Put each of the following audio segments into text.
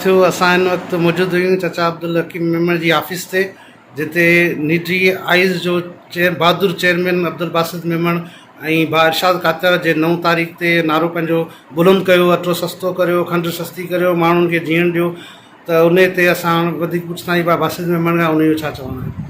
ٿيو، اسان ان وقت موجود هيون چچا عبدالحڪيم ميمڻ جي آفيس تي، جتي نيٽري آئيز جو چيئر بهادر چيئرمين عبدالباسط ميمڻ ۽ ڀاء ارشاد ڪاچر جي نو تاريخ تي نعرو پنهنجو بلند ڪيو اٽو سستو ڪريو، کنڊ سستي ڪريو، ماڻهن کي جيئڻ ڏيو ته انهي تي اسان وڌيڪ پڇندا آهيون ڀاء باسط ميمڻ کان انهي جو ڇا چوڻ آهي؟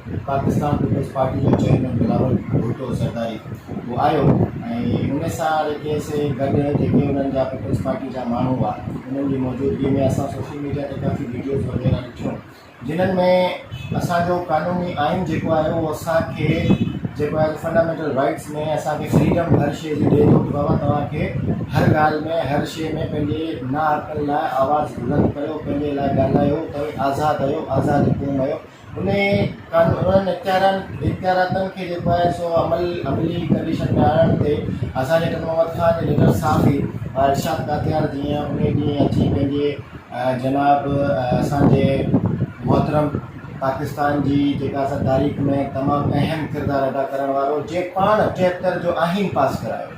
پاڪستان پيپلز پارٽي جو چيئرمين بلاول ڀٽو زرداري هو آيو ۽ ان سان رکي سي گڏ جيڪي انهن جا پيپلز پارٽي جا ماڻهو هئا انهن جي موجودگي ۾ اسان سوشل ميڊيا تي ڪافي ويڊيوز وغيره ڏٺيون جنهن ۾ اسان جو قانوني آئين جيڪو آهي اهو اسان کي جيڪو آهي فنڊامينٽل رائٽس ۾ اسان کي فريڊم هر شيء جي ڏئي ٿو بابا توهان کي هر ڳالهه ۾ هر شيء ۾ پنهنجي ناحقن لاء آواز بلند ڪيو پنهنجي لاء ڳالهايو توهين آزاد آهيو آزاد قوم آهيو انهي انهن اختيارن اختياراتن کي جيڪو آهي سو عمل عملي ڪنڊيشن ۾ آڻڻ تي اسان جي ٽنڊو محمد خان جي نگهر صافي ارشاد ڪاتيار جيئن انهي ڏينهن اچي پنهنجي جناب اسان جي محترم پاڪستان جي جيڪا اسان تاريخ ۾ تمام اهم ڪردار ادا ڪرڻ وارو جي پاڻ ٽيهتر جو آئين پاس ڪرايو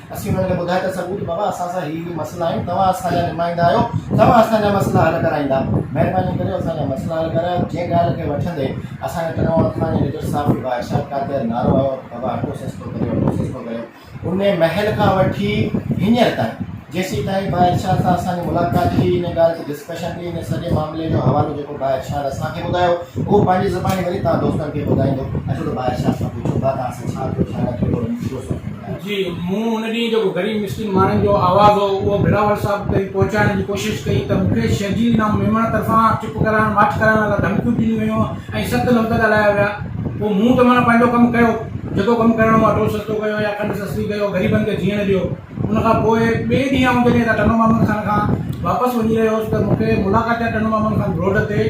اسين انهن کي ٻڌايو ته سڳوري بابا اسان سان هي هي مسئلا آهن توهان اسان جا نمائندا آهيو توهان اسان جا مسئلا حل ڪرائيندا مهرباني ڪري اسان جا مسئلا حل ڪرايو جنهن ڳالهه کي وٺندي اسان جا تنوع عثماني جي ليڊر صاحب جي بادشاهه قاتل نعرو هيو ته بابا اٽو سستو ڪريو اٽو سستو ڪريو ان مهل کان وٺي هينئر تائين جيسين تائين بادشاهه سان اسان جي ملاقات ٿي ان ڳالهه تي ڊسڪشن ٿي ان سڄي معاملي جو حوالو جيڪو بادشاهه اسان کي ٻڌايو اهو پنهنجي زباني وري توهان دوستن کي ٻڌائيندو اچو ته بادشاهه سان پڇو بابا اسان ڇا ٿيو ڇا نه ٿيو ٿورو مشورو سوچو جي مون ان ڏينهن جيڪو غريب مسڪين ماڻهن جو آواز هو اهو بلاول صاحب تائين پهچائڻ جي ڪوشش ڪئي ته مون کي شرجيل نام ميمڻ طرفان چپ ڪرائڻ ماٺ ڪرائڻ لاء ڌمڪيون ڏنيون ويون ۽ سخت لفظ ڳالهايا ويا پوء مون ته معنيٰ پنهنجو ڪم ڪيو جيڪو ڪم ڪرڻو هو اٽو سستو ڪيو يا کنڊ سستي ڪيو غريبن کي جيئڻ ڏيو ان کان پوء ٻئي ڏينهن آئون جڏهن ٽنڊو مامن خان کان واپس وڃي رهيو هوس ته مون کي ملاقات ٽنڊو مامن خان روڊ تي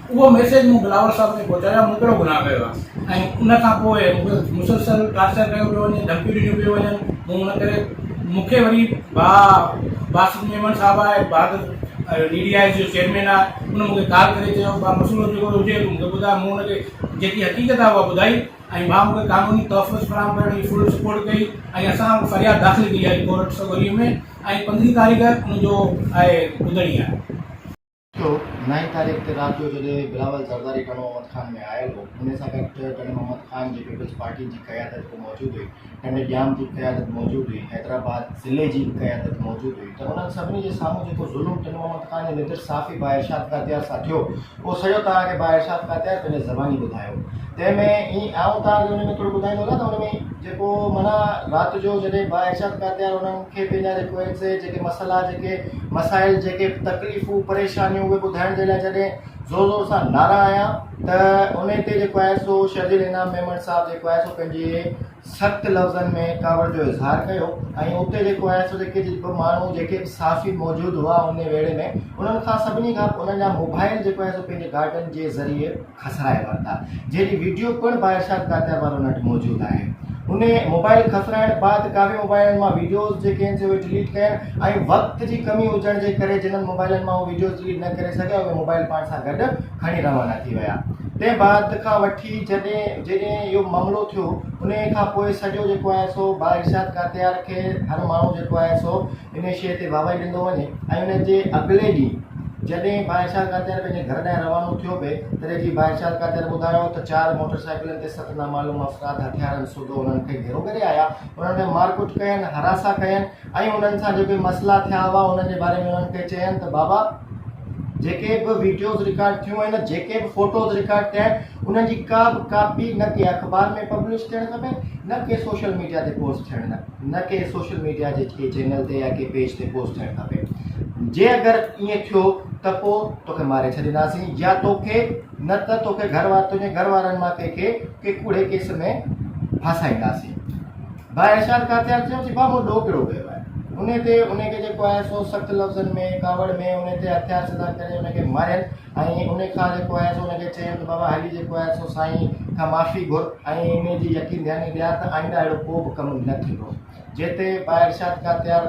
اهو ميسيج مون بلاول صاحب کي پهچايو مون ڪهڙو گناهه ڪيو آهي ۽ ان کان پوء مون کي مسلسل ٽارچر ڪيو پيو وڃي ڌمڪيون ڏنيون پيون وڃن مون ان ڪري مون کي وري ڀاء باسط ميمڻ صاحب آهي بھادر ڊي ڊي آئي جو چيئرمين آهي ان مون کي ڪال ڪري چيو ڀاء مسئلو جيڪو هجي مون کي ٻڌاء مون ان کي جيڪي حقيقت آهي اها ٻڌائي ۽ ڀاء مون کي قانوني تحفظ فراهم ڪرڻ جي فل سپورٽ ڪئي ۽ اسان فرياد داخل ڪئي آهي ڪورٽ سوگريء ۾ ۽ پندرهين تاريخ ان جو آهي ٻڌڻي آهي ٿيو. نائين تاريخ تي رات جو جڏهن بلاول زرداري ٽنڊو محمد خان ۾ آيل هو، انهي سان گڏ ٽنڊي محمد خان جي پيپلز پارٽي جي قيادت به موجود هئي، ٽنڊي ڄام جي قيادت موجود هئي، حيدرآباد ضلعي جي به قيادت موجود هئي ته انهن سڀني جي سامهون جيڪو ظلم ٽنڊي محمد خان جي نڌر صحافي ڀاء ارشاد ڪاتيار سان ٿيو، اهو سڄو توهان کي ڀاء ارشاد ڪاتيار پنهنجي زباني ٻڌايو. تنهن ۾ ايئن آئون توهان کي ان ۾ ٿورو ٻڌائيندو هلان ته ان ۾ جيڪو معنيٰ رات جو جڏهن ڀاء ارشاد ڪاتيار انهن کي پنهنجا جيڪو ايڪزيڪٽ جيڪي مسئلا جيڪي مسائل جيڪي تڪليفون پريشانيون اهي ٻڌائڻ جي لاء جڏهن زور زور سان نعرا آيا ته ان تي جيڪو آهي سو شرجيل انعام ميمڻ صاحب جيڪو آهي سو پنهنجي سخت لفظن ۾ ڪاوڙ جو اظهار ڪيو ۽ اتي جيڪو آهي سو جيڪي به ماڻهو جيڪي به صحافي موجود هئا ان ويڙهي ۾ انهن کان سڀني کان انهن جا موبائل جيڪو آهي سو پنهنجي گارڊن جي ذريعي کسرائي ورتا جنهن جي ويڊيو پڻ با ارشاد ڪاتيار وارن وٽ موجود آهي انهي موبائل کسرائڻ بعد ڪاوي موبائلن مان ويڊيوز جيڪي آهن سي اهي ڊليٽ ڪيا ۽ وقت جي ڪمي هجڻ جي ڪري جنهن موبائلن مان هو ويڊيوز ڊليٽ نه ڪري سگهيا اهي موبائل پاڻ سان گڏ کڻي روانا ٿي ويا تنهن بعد کان وٺي جڏهن جڏهن اهو معاملو ٿيو انهي کان پوء سڄو جيڪو آهي سو با ارشاد ڪاتيار کي هر ماڻهو جيڪو آهي سو ان شيء تي واهه واهي ڏيندو وڃي ۽ ان جي اڳلي ڏينهن جڏهن بائيشال قادياني پنهنجي گهر ڏانهن روانو ٿيو پئي تڏهن جي بائيشال قادياني ٻڌايو ته چار موٽر سائيڪلن تي ست نامعلوم افراد هٿيارن سوڌو انهن کي گهيرو ڪري آيا انهن ۾ مارڪٽ ڪين هراسان ڪين ۽ انهن سان جيڪي مسئلا ٿيا هئا انهن جي باري ۾ انهن کي چين ته بابا جيڪي به ويڊيوز رڪارڊ ٿيون آهن جيڪي به فوٽوز رڪارڊ ٿيا آهن انهن جي ڪا به ڪاپي نه ڪنهن اخبار ۾ پبلش ٿيڻ کپي نه ڪنهن سوشل ميڊيا تي پوسٽ ٿيڻ کپي نه ڪنهن سوشل ميڊيا جي ڪنهن چينل تي يا ڪنهن پيج تي پوسٽ ٿيڻ کپي جي اگر ائين ٿيو ته پوء توکي ماري ڇڏينداسين يا توکي نه ته توکي گهر وار تنهنجي گهر وارن مان ڪنهن کي ڪنهن ڪوڙي ڪيس ۾ ڦاسائينداسين ڀاء ارشاد ڪاتيار چيو چي بابو ڏو ڪهڙو ڪيو آهي ان تي ان کي جيڪو آهي سو سخت لفظن ۾ ڪاوڙ ۾ ان تي هٿيار سڌا ڪري ان کي مارين ۽ ان کان جيڪو آهي سو ان کي چيم ته بابا هلي جيڪو آهي سو سائين کان معافي گهر ۽ ان جي يقين ڌياني ڏيان ته آئنده اهڙو ڪو به ڪم نه ٿيندو. جتي ٻا ارشاد کا تيار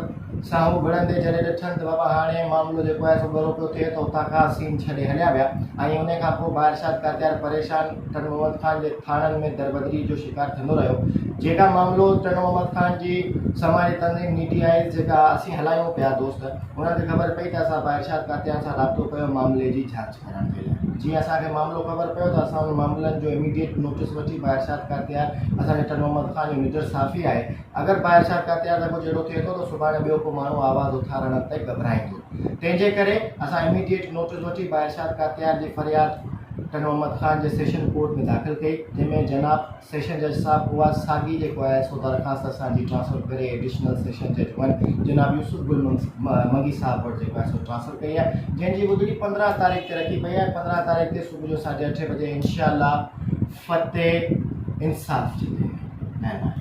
ساهو وڙهندي جڏهن ڏٺن ته بابا هاڻي معاملو جيڪو آهي سو ڳرو پيو ٿئي ته اتان کان سين ڇڏي هليا ويا ۽ ان کان پوء ٻا ارشاد کا تيار پريشان ٽن محمد خان جي ٿاڻن ۾ دربدري جو شڪار ٿيندو رهيو جيڪا معاملو ٽن محمد خان جي سماجي تنظيم ني ٽي آئيز جيڪا اسين هلايون پيا دوست انهن کي خبر پئي ته اسان باارشاد ڪاتيان سان رابطو ڪيو معاملي جي جاچ ڪرڻ جي لاء جيئن اسان کي معاملو خبر پيو ته اسان ان معاملن جو اميڊيٽ نوٽس وٺي باارشاد ڪاتيار اسان جي ٽن محمد خان جو نڊر صافي آهي اگر باارشاد ڪاتيار سان ڪجهه اهڙو ٿئي ٿو ته سڀاڻي ٻيو ڪو ماڻهو آواز اٿارڻ تي گهٻرائيندو تنهن جي ڪري اسان اميڊيٽ نوٽس وٺي باارشاد ڪاتيار جي فرياد ٽن محمد خان جي سيشن ڪورٽ ۾ داخل ڪئي جنهن ۾ جناب سيشن جج صاحب اها ساڳي جيڪو آء ايس او درخواست اسان جي ٽرانسفر ڪري ايڊيشنل سيشن جج ون جناب يوسف گل منگي صاحب وٽ جيڪو آء ايس او ٽرانسفر ڪئي آهي جنهن جي ٻڌڻي پندرهن تاريخ تي رکي پئي آهي پندرهن تاريخ تي صبح جو ساڍي اٺ بجي انشاء الله فتح انصاف جي مهرباني